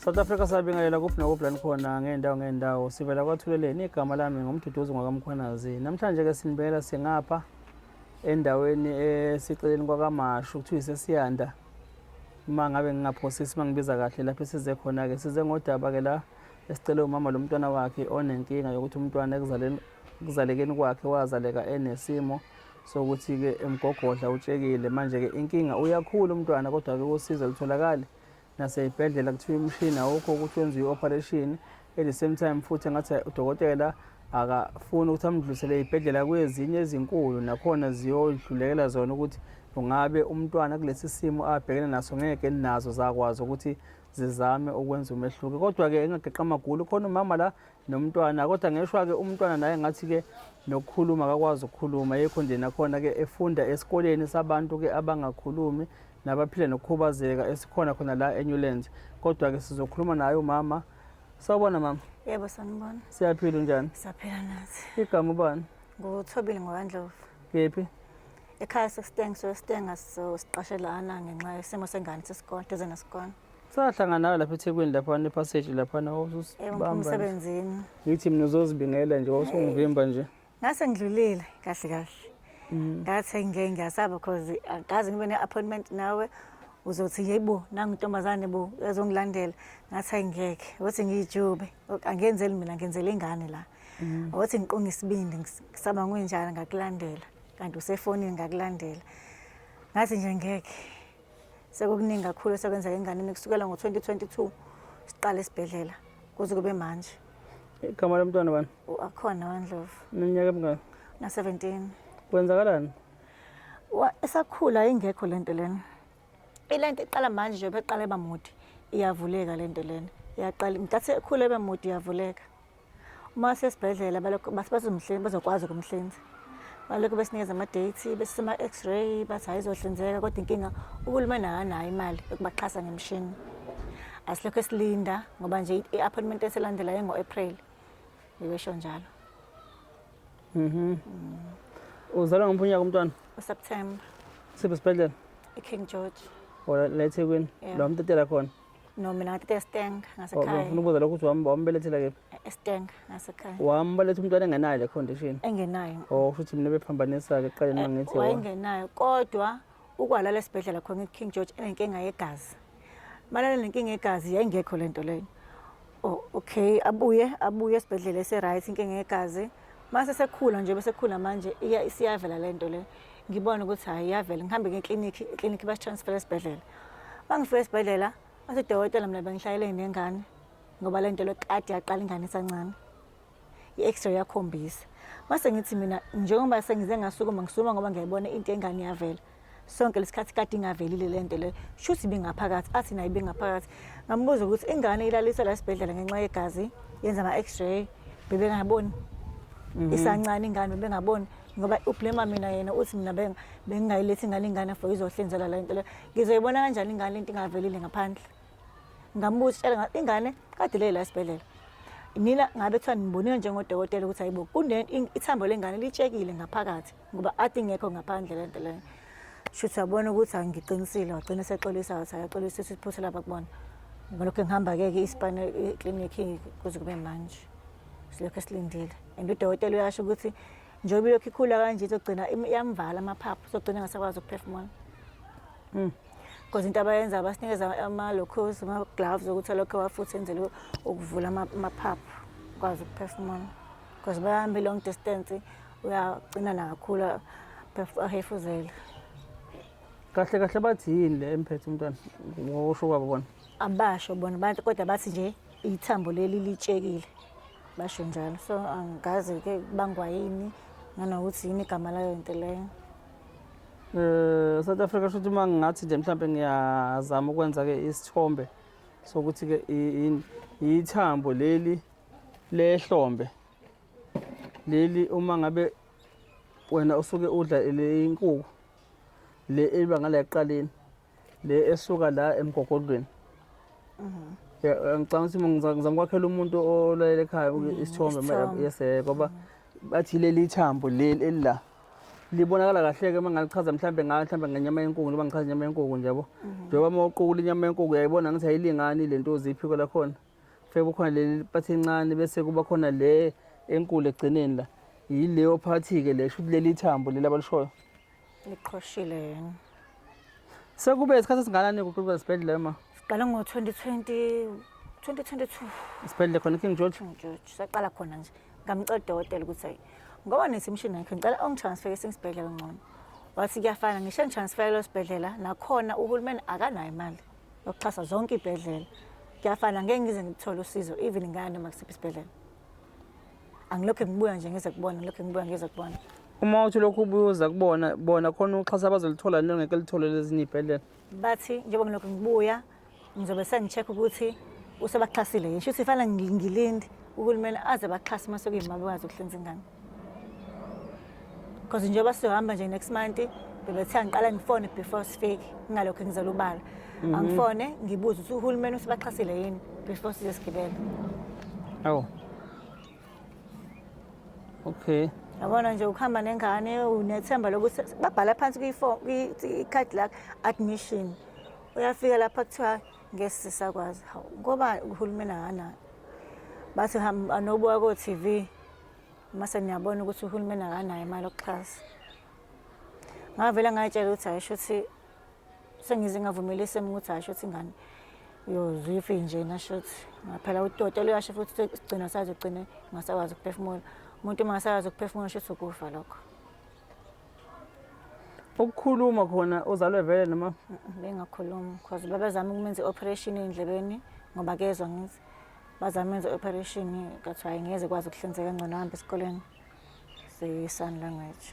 South Africa sabingelela kuphi nakuphi la nikhona ngey'ndawo ngey'ndawo sivela kwathuleleni igama lami ngumduduzi ngwakamkhwanazi namhlanje-ke sinibela singapha endaweni esiceleni kwakamashu kuthiwa isesiyanda uma ngabe ngingaphosisi uma ngibiza kahle lapho esize khona-ke size ngodaba-ke la esicele umama lo mntwana wakhe onenkinga yokuthi umntwana ekuzalekeni kwakhe wazaleka enesimo sokuthi-ke emgogodla utshekile manje-ke inkinga uyakhula umntwana kodwa-ke usiza lutholakali naseyibhedlela kuthiwa umshini awukho ukuthi wenziwe i-operation at the same time futhi ngathi udokotela akafuni ukuthi amdlulisele eyibhedlela kwezinye ezinkulu nakhona ziyodlulekela zona ukuthi ungabe umntwana kulesi simo abhekene naso ngeke nazo zakwazi ukuthi zizame ukwenza umehluko kodwa-ke engageqa amagulu khona umama la nomntwana kodwa ngeshwa-ke umntwana naye ngathi-ke nokukhuluma akakwazi ukukhuluma yekho nje nakhona-ke efunda esikoleni sabantu-ke abangakhulumi nabaphila nokukhubazeka esikhona khona la eNewlands kodwa-ke sizokhuluma naye umama sawubona mama yebo sanibona siyaphila unjani siyaphila nathi igama ubani nguthobile ngokwandlovu kephi ekhaya sesitengiso esitenga siqashelana ngenxa yesimo sengane sesikole duze nesikole sahlangana nawe lapha ethekwini laphana ephaseji laphana emsebenzini ngithi mina uzozibingela nje wawusungivimba nje ngase ngidlulile kahle kahle mm. ngathi ngike ngiyasaba because angazi ngibe ne-appointment nawe uzothi yeyibo nangintombazane bo ezongilandela ngathi hayi ngeke ukuthi ngiyijube angenzeli mina ngenzela ingane la mm. ukuthi ngiqonge isibindi ngisaba ngunjani ngakulandela kanti usefonini ngakulandela ngathi nje ngeke Sekukuningi kakhulu esekwenzeka enganeni kusukela ngo-2022 siqala esibhedlela kuze kube manje. Igama lomntwana bani? Akhona waNdlovu. Neminyaka emingaki? Na-17. Kwenzakalani? Esakhula ingekho le nto lena. Ile nto iqala manje njengoba eqala eba mude iyavuleka le nto lena. Iyaqala nkathi ekhula ebe mude iyavuleka. uma sesibhedlela balokhu bathi bazomhlinza bazokwazi ukumhlinza balokhu besinikeza ama-date besisema-x-ray bathi hhayi izohlinzeka kodwa inkinga uhulumeni akanayo imali yokubaxhasa ngemishini asilokhu esilinda ngoba nje i-appointment esilandelayo engo-april bebesho njalo mhm uzalwa ngomuphi unyaka umntwana useptember siphi isibhedlela i-king george ola la ethekwini Yeah. la umtatela khona No, mina ngathatha eStenga ngasekhaya. Ufuna ukubuza lokho ukuthi wambelethela kephi? eStenga ngasekhaya. Wambaletha umntwana engenayo le condition? Engenayo. Oh, kusho ukuthi mina bephambanisa-ke ekuqaleni uma ngithi. Wayengenayo kodwa ukwalala esibhedlela khona iKing George enenkinga yegazi. Malala nenkinga yegazi yayingekho le nto leyo. Oh, okay abuye abuye esibhedlela ese-right inkinga yegazi mase sekhula nje bese khula manje iya isiyavela le nto le ngibona ukuthi hhayi iyavela ngihambe ngeklinikhi eklinikhi basitransfere esibhedlela bangifika esibhedlela bathi udokotela mina bengihlalele nengane ngoba le nto le kade yaqala ingane isancane i-x-ray yakhombisa mase ngithi mina njengoba sengize ngasukuma ngisukuma ngoba ngiyayibona into engane yavela sonke lesikhathi kade ingavelile le nto leyo shuthi ibingaphakathi athi nayo ibingaphakathi ngambuza ukuthi ingane ilaliswa la sibhedlela ngenxa yegazi yenza ama-x-ray bebengaboni mhm. isancane ingane bebengaboni ngoba ublema mina yena uthi mina bengingayilethi ingane ingane for izohlenzela le nto leyo ngizoyibona kanjani ingane into ingavelile ngaphandle ngambuza tshela ngathi ingane kade le la esibhedlela nina ngabe kuthiwa nibonile njengodokotela ukuthi hayibo ithambo lengane litshekile ngaphakathi ngoba athi ingekho ngaphandle lento leyo shuthi wabona ukuthi angiqinisile wagcina sexolisa wathi akaxolisa ukuthi iphutha labakubona ngalokho ngihamba-ke ke ispan clinic kuze kube manje silokhu esilindile and udokotela uyasho ukuthi njengoba ilokhu ikhula kanje izogcina yamvala amaphaphu izogcina ngasakwazi ukuphefumula Mm. Because into abayenza abasinikeza ama-locos, ama-gloves okuthi lokho wafuthi enzele ukuvula amaphaphu ukwazi ukuphefumula. Because bahambe long distance uyagcina nakakhulu ahefuzela. Kahle kahle bathi yini le emphethe umntwana ngosho kwabo bona? Abasho bona abantu kodwa bathi nje ithambo leli litshekile. Basho njalo. So angikaze ke bangwa yini nanokuthi yini igama layo into leyo. Eh South Africa shothi uma ngathi nje mhlawumbe ngiyazama ukwenza ke isithombe sokuthi ke ithambo leli lehlombe leli uma ngabe wena usuke udla le inkukhu le eliba ngala eqaleni le esuka la emgogodlweni mhm. eh, ngicabanga ukuthi ngizamkwakhela umuntu olalele ekhaya mhm, isithombe yes eh, ngoba mhm. bathi leli thambo leli elila libonakala kahle-ke uma ngalichaza mhlawumbe ngayo mhlawumbe ngenyama yenkuku njengoba ngichaza inyama yenkuku njabo njengoba uma uqukula inyama yenkuku uyayibona ngithi ayilingani le nto uziphiko lakhona Fake kukhona le part encane bese kuba khona le enkulu ekugcineni la. Yileyo part ke le shuthi leli thambo leli abalishoyo. Liqhoshile yini? Sekube isikhathi esinganani kuqoqa isibhedlela ma? Siqale ngo 2020 2022. Isibhedlela khona King George. King George saqala khona nje. Ngamcela udokotela ukuthi ayi ngoba nesimshini yakhe ngicela ongitransfer esinye isibhedlela ngcono. Wathi kuyafana ngisho ngitransfer lo sibhedlela nakhona uhulumeni akanayo imali. yokuxhasa zonke iy'bhedlela kuyafana ngeke ngize ngithole usizo even ngaya noma kusiphi isibhedlela angilokhu ngibuya nje ngize kubona ngilokhu ngibuya ngize kubona uma uthi lokhu ubuza kubona bona khona uxhasa abazolithola nto ngeke lithole lezinye iy'bhedlela bathi njengoba ngilokhu ngibuya ngizobe sengi-check ukuthi usebaxhasile yini shuthi fanele ngilinde uhulumeni aze baxhase uma sekuyima bekwazi ukuhlinza ingane because njengoba sizohamba nje next month bebethe angiqala ngifone before sifike ngingalokho engizela ubala mhm. angifone ngibuze ukuthi uhulumeni usibaxhasile yini before size sigibele awu okay yabona nje ukuhamba nengane unethemba lokuthi babhala phansi kwi-card lakho admission uyafika lapha kuthiwa ngesi sisakwazi hawu ngoba uhulumeni akanayo bathi hamba anobuka ko-tv uma seniyabona ukuthi uhulumeni akanayo imali okuxhasa ngavele ngayitshela ukuthi hayi shuthi sengize ngavumeli isimo ukuthi hayi shuthi ingane uyozifi nje nashuthi ngaphela utoto luyasho futhi sigcina sazogcina ngasakwazi ukuphefumula umuntu uma ngasakwazi ukuphefumula shuthi ukufa lokho ukukhuluma khona uzalwe vele noma bengakhulumi because babezama ukumenza i-operation endlebeni ngoba kezwa ngithi bazamenza operation kathiwa ngeze kwazi ukuhlinzeka ngcono hamba esikoleni seyisan language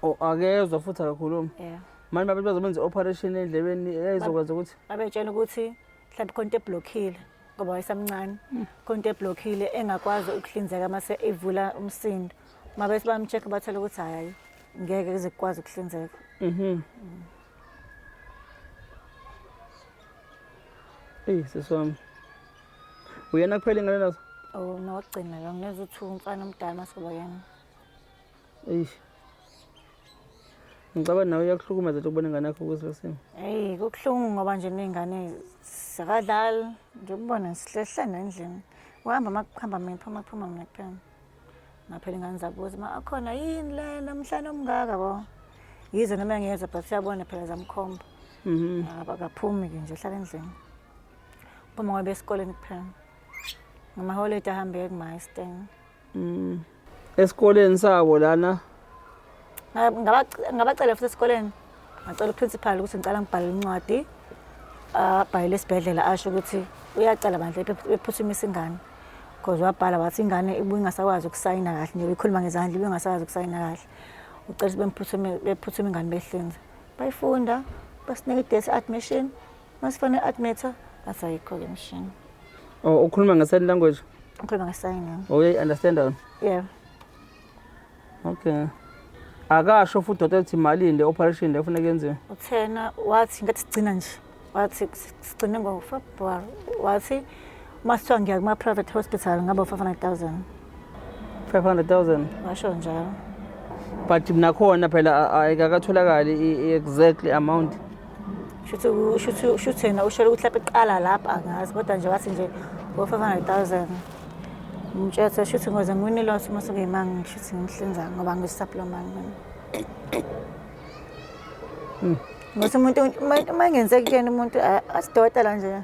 o oh, akezwa futhi akakhulumi yeah manje babe bazomenza operation endlebeni eyizokwazi ukuthi babetshela ukuthi mhlawumbe khona into eblockile ngoba wayesamncane hmm. khona into eblockile engakwazi ukuhlinzeka mase evula umsindo uma bese bamcheck bathola ukuthi hayi ngeke kuze kukwazi ukuhlinzeka mhm mm. Eyi sisi wami. Uyena kuphela ingane nazo? Oh, nokugcina lo ngeza uthi umfana omdala masoba yena. Eish. Ngicaba nawe uyakuhlukumeza nje ukubona ingane yakho kuzilo simo. Hey, kubuhlungu ngoba nje nezingane zakadlali nje ukubona sihlehla nendlini. Uhamba makuhamba mina phuma phuma mina kuphela. ngaphela ingane zabuza ma akhona yini le namhlanje omngaka bo yize noma ngiyeza but siyabona phela zamkhomba mhm akaphumi ke nje hlala endlini phuma ngoba esikoleni kuphela ngamaholide ahambe ekumaisten mhm esikoleni sabo lana ngabacela futhi esikoleni ngacela uprincipal ukuthi ngicela ngibhale incwadi abhayele esibhedlela asho ukuthi uyacela bandla bephuthumise ingane because wabhala wathi ingane ibingasakwazi ukusayina kahle nje bekhuluma ngezandla ibingasakwazi ukusayina kahle ucela bemphuthume bephuthume ingane behlinza bayifunda basinika i-date admission masifane admita bathi ayikho-ke mshini oh ukhuluma nge-sign language ukhuluma nge-sign oh uyayi-understanda wena yeah okay akasho futhi udokotela ukuthi malini le operation le kufuneka yenziwe uthena wathi ngathi sigcina nje wathi sigcine ngofebruary wathi uma sithiwa ngiya kuma-private hospital ngaba u-five hundred thousand five hundred thousand washo njalo but nakhona phela ayikakatholakali i-exactly amount shuthi yena ushele ukuthi lapho iqala lapho angazi kodwa nje wathi nje ngo-five hundred thousand ngimtshela ukuthi shuthi ngoze ngiwini loss uma sokuyimanga ngishuthi ngimhlinza ngoba ngisaplomanga mina hmm. ngothi umuntu uma engenzeki kuyena umuntu asidoda la nje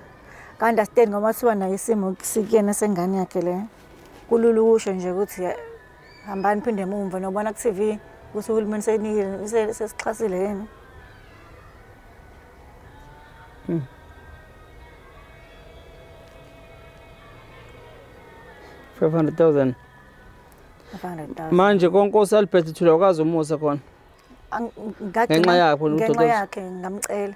kanti asiteni ngoba siba nayo isimo sikuyena sengane yakhe le kulula ukusho nje ukuthi hambani phinde mumva nobona ku-tv ukuthi uhulumeni senikile sesixhasile yini hmm. five hundred thousand manje konkosi albert thula ukazi umusa khona ngenxa yakho ngenxa yakhe ngamcela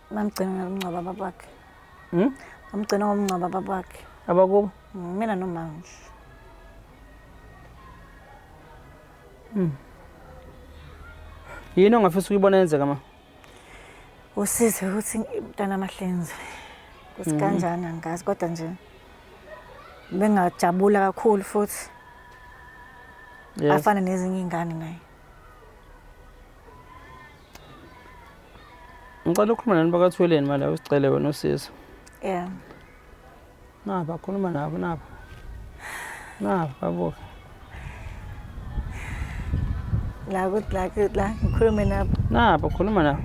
Bamgcina ngomngcwaba babakhe. Hmm? Bamgcina ngomngcwaba babakhe. Abakubo? Hmm, mina nomanje. Hmm. Yini ongafisa ukuyibona yenzeka ma? Usize ukuthi mntana amahlenze. Ukuthi hmm. kanjani angazi kodwa nje bengajabula kakhulu futhi. Yes. Afana nezinye ingane naye. ngicela ukhuluma nani bakathweleni mali awusicele wena usizo yeah naba khuluma nabo nabo nabo babuke la kuthi la kuthi la ngikhulume nabo nabo khuluma nabo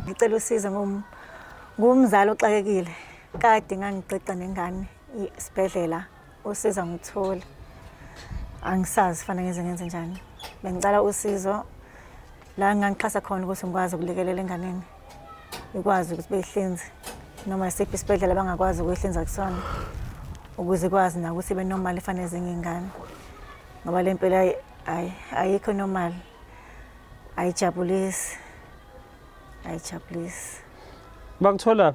ngicela usizo ngom ngumzali oxakekile kade ngangiqiqa nengane isibhedlela usiza ngithule angisazi fanele ngenze ngenze njani bengicela usizo la ngangixhasa khona ukuthi ngikwazi ukulekelela enganeni ikwazi ukuthi beyihlinze noma isiphi isibhedlela abangakwazi ukuyihlinza kusona ukuze ikwazi na ukuthi ibe normal ifanele ezinye iy'ngane ngoba le mpela ayikho normal ayijabulisi ayijabulisi bakuthola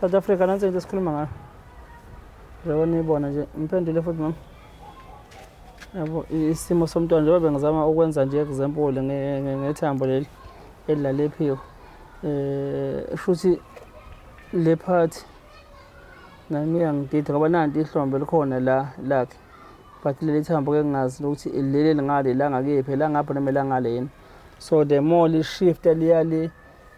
South Africa nansi into esikhuluma ngayo. Njengoba niyibona nje ngiphendule futhi mama. Yabo isimo somntwana njengoba bengizama ukwenza nje example ngethambo leli elidlala ephiko. Eh futhi le part nami iyangidida ngoba nanti ihlombe likhona la lakhe. But leli thambo ke ngingazi ukuthi leli lingale la ngakephi la ngapha noma la ngale yini. So the more li shift liya li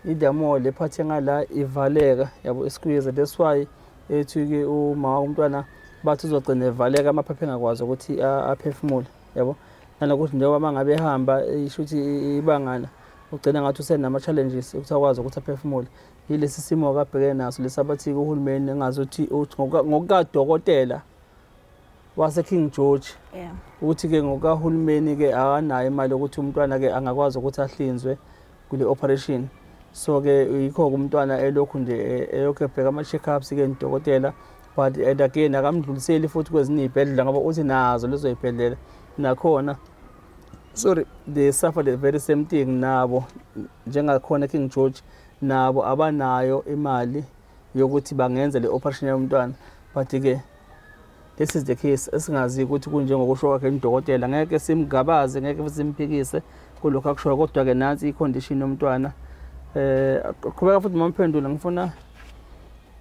idamo le phathe ngala ivaleka yabo isikuyeze that's why ethi ke uma umntwana bathi uzogcina evaleka amaphaphe engakwazi ukuthi aphefumule yabo nanokuthi njengoba uma ngabe ehamba isho ukuthi ibangana ugcina ngathi usenama-challenges ukuthi akwazi ukuthi aphefumule yilesi simo kabhekene naso lesi abathi uhulumeni engazi ukuthi ngokukadokotela waseKing George yeah. ukuthi ke ngokahulumeni ke akanayo imali yokuthi umntwana ke angakwazi ukuthi ahlinzwe kule operation so ke yikho umntwana elokhu nje e, eyokhe ebheka ama check ups ke nidokotela but and again akamdluliseli futhi kwezinye izibhedlela ngoba uthi nazo lezo izibhedlela nakhona sorry they suffer the very same thing nabo njengakhona King George nabo abanayo imali yokuthi bangenza le operation yomntwana but ke this is the case esingazi ukuthi kunjengokusho kwakhe nidokotela ngeke simgabaze ngeke simphikise kulokho akushoyo kodwa ke nansi icondition yomntwana eh qhubeka futhi mamphendula ngifuna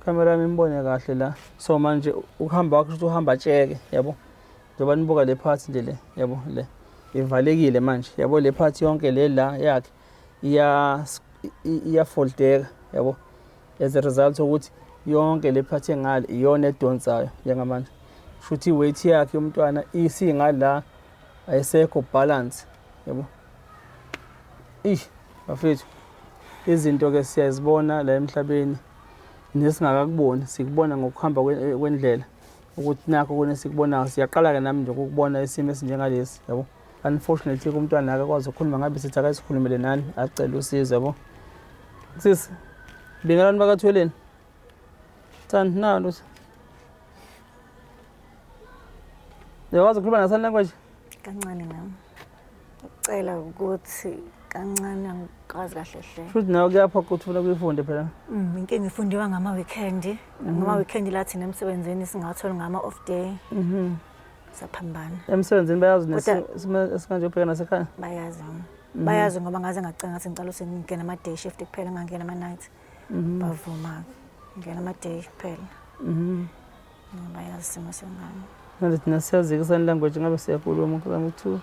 camera yami imbone kahle la so manje ukuhamba wakho ukuthi uhamba tsheke yabo njengoba nibuka le part nje le yabo le ivalekile manje yabo le part yonke le la yakhe iya iyafoldeka yabo as a result ukuthi yonke le phathi engale iyona edonsayo njengamanje shuthi iweight yakhe yomntwana isingala ayisekho balance yabo ish bafethu izinto ke siyazibona la emhlabeni nesingakakuboni sikubona ngokuhamba kwendlela ukuthi nakho kune sikubonayo siyaqala-ke nami nje ukukubona isimo esinjengalesi yabo unfortunately kumntwana akakwazi ukukhuluma ngabe sithi akasikhulumele nani acela usizo yabo sisi bingelani bakathweleni thani nalo uyakwazi ukukhuluma nasani language kancane nami ucela ukuthi kancane angikwazi kahle hle futhi nawe kuyapha ukuthi ufuna kuyifunde phela mm, inkinga ifundiwa ngama-weekend mhm. ngama-weekend la thina emsebenzini singatholi ngama-off day mhm. saphambana emsebenzini bayazi nesikanje ubheka nasekhaya bayazi mhm. bayazi ngoba ngaze ngacinga ngathi ngicela usengingena ama-day shift kuphela ngangena ama-night mhm. bavuma ngena ama-day kuphela mhm. bayazi isimo sengane manje thina siyazi-ke sign language ngabe siyakulwa umuntu zama ukuthiwa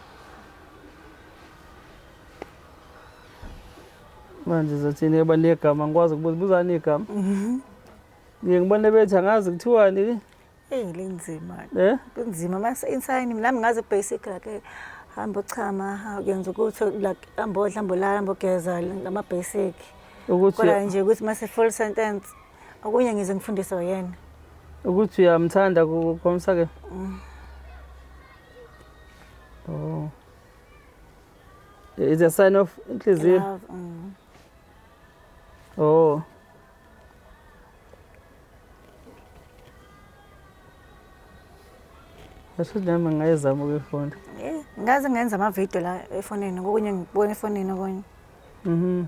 manje zothini yoba negama ngikwazi ukubuza buzani igama ngiye ngibone bethi angazi kuthiwani Eyi linzima. Eh? Kunzima mase insayini nami ngaze basic like hamba uchama uyenza ukuthi like hamba odla hamba ulala hamba ugeza ngama basic. Ukuthi kodwa nje ukuthi mase full sentence okunye ngize ngifundise yena. Ukuthi uyamthanda kukhomisa ke. Mm. Oh. It's a sign of inhliziyo. Mm. Oh. Asho nami ngayezama ukuyifunda. Eh, ngaze ngenza ama video la efonini kokunye ngibona efonini okunye. Mhm.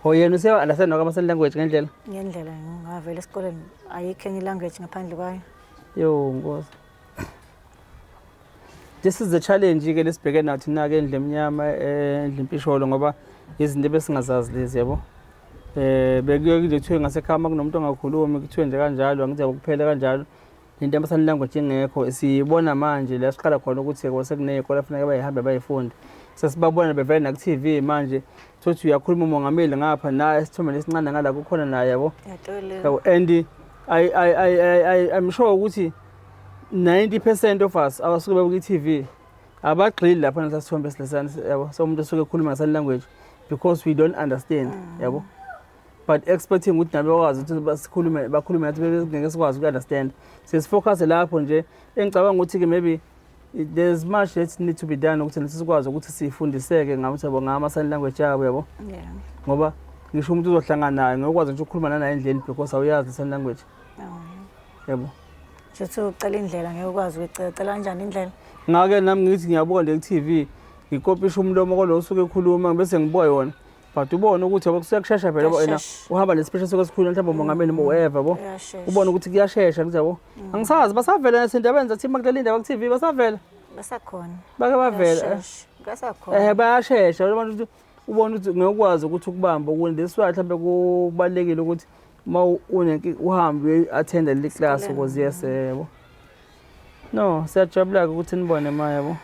Oh yena use understand noka amasign language ngendlela? Ngendlela ngavela esikoleni ayikho enye language ngaphandle kwayo. Yo nkosi. this is the challenge ke lesibheke nathi nake endle emnyama eh, endle impisholo ngoba izinto besingazazi lezi yabo eh bekuye nje kuthiwe ngasekhama kunomuntu ongakhulumi kuthiwe nje kanjalo angithi ukuphela kanjalo into amasani language ingekho siyibona manje la siqala khona ukuthi kwase kuneyikole afuneka bayihambe bayifunde sesibabona bevele naku-TV manje Thothi uyakhuluma umongameli ngapha na esithombeni esincane ngala kukhona naye yabo. Yabo and I I I I'm sure ukuthi 90% of us abasuke bebuka iTV abagxili lapha nasasithombe silesana yabo so umuntu osuke ekhuluma ngesan language because we don't understand mm. yabo but expecting ukuthi nabe bakwazi ukuthi basikhulume bakhulume nathi bengeke sikwazi uku-understand sesifocuse lapho nje engicabanga ukuthi-ke maybe there's much that need to be done ukuthi nathi sikwazi ukuthi sifundiseke ngakuthi yabo ngama sign language yabo yabo yeah ngoba ngisho umuntu uzohlangana naye ngokwazi nje ukukhuluma nanaye endleni because awuyazi sign language oh. yabo ngithi ucela indlela ngeke ukwazi ukuyicela cela kanjani indlela ngake nami ngithi ngiyabuka nje ku-TV ngikopisha umlomo kwalo usuke ekhuluma bese ngibuka yona but ubone ukuthi yabo kushesha vele yabo ena uhamba nesipesha soke sikhulu mhlawumbe umongameli mm. uweva yabo ubone ukuthi kuyashesha kuthi yabo mm. angisazi basavela nasendabeni zathi makuleli ndaba ku TV basavela basakhona bake bavela basakhona eh bayashesha abantu ubone ukuthi ngekwazi ukuthi ukubamba ukuthi this way mhlawumbe kubalekile ukuthi uma unenki uhambe uyathenda le class because yes yebo No, siyajabula-ke ukuthi nibone ma yabo.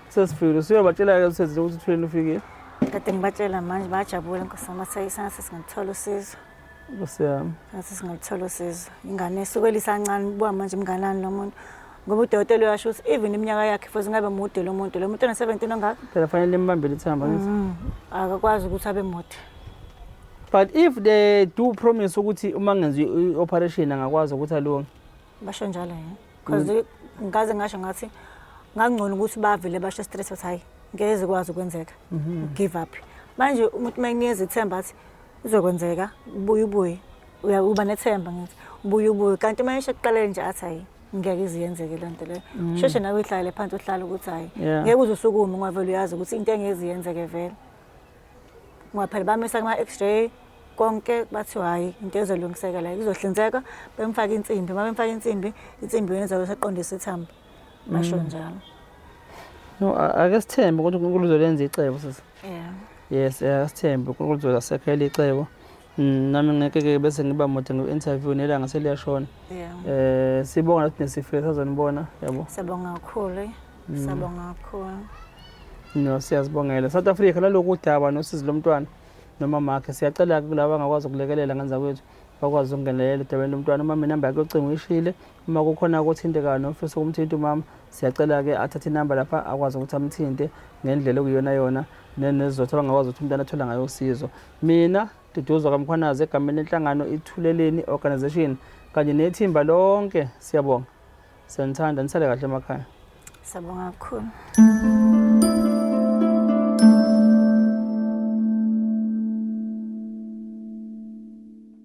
Sesifikile, usuyobatshela-ke usezile ukuthi uthuleni ufikile. Kade ngibatshela manje bayajabula nkosi yami bathe sengathi singaluthola usizo. Nkosi yami. Sengathi singaluthola usizo. Ingane esuke elisancane ubuka manje mnganani lo muntu. Ngoba udokotela uyasho ukuthi even iminyaka yakhe futhi ngabe mude lo muntu. Lo muntu ona-17 ongaka? Phela fanele limbambele ithamba ngithi. Mm, akakwazi ukuthi abe mude. But if they do promise ukuthi uma ngenzi i-operation angakwazi ukuthi alunge. basho njalo yini because mm. ngaze ngasho ngathi ngangcono ukuthi bavele basho stress wathi hayi ngeke zikwazi ukwenzeka mhm. give up manje umuntu uma enikeza ithemba athi izokwenzeka ubuye ubuye uba nethemba ngithi ubuye ubuye kanti uma esho kuqalele nje athi hayi ngeke iziyenzeke le nto leyo mm. sheshe nawe uyihlalele phansi uhlale ukuthi hayi ngeke uze usukume ungavele uyazi ukuthi into engeziyenzeke vele ngoba phela bamisa kuma-x-ray konke bathi hhayi into ezolungiseka la izohlinzeka bemfaka insimbi uma bemfaka insimbi insimbi yona izobe seqondisa ithambo basho mm. njalo no ake sithembe ukuthi unkulunkulu uzolenza icebo sisi yeah yes ake sithembe unkulunkulu uzozasekhela icebo Mm, nami ngeke ke bese ngiba mude ngu-interview nelanga seliyashona yeah. eh sibonga ukuthi nesifile sazonibona yabo siyabonga kakhulu eh. mm. siyabonga kakhulu no siyazibongela south africa laloku udaba nosizi lomntwana noma makhe siyacela ke kulaba angakwazi ukulekelela ngenza kwethu bakwazi ukungenelela edabeni lomntwana uma mina namba yakhe yocingo ishile uma kukhona okuthintekayo nofisa ukumthinta umama siyacela-ke athathe inamba lapha akwazi ukuthi amthinte ngendlela okuyiyona yona nezizothu abangakwazi ukuthi umntwana athole ngayo usizo Mina, Duduzwa kaMkhwanazi egameni lenhlangano iThuleleni Organisation kanye nethimba lonke siyabonga. Siyanithanda nisale kahle emakhaya. Siyabonga kakhulu.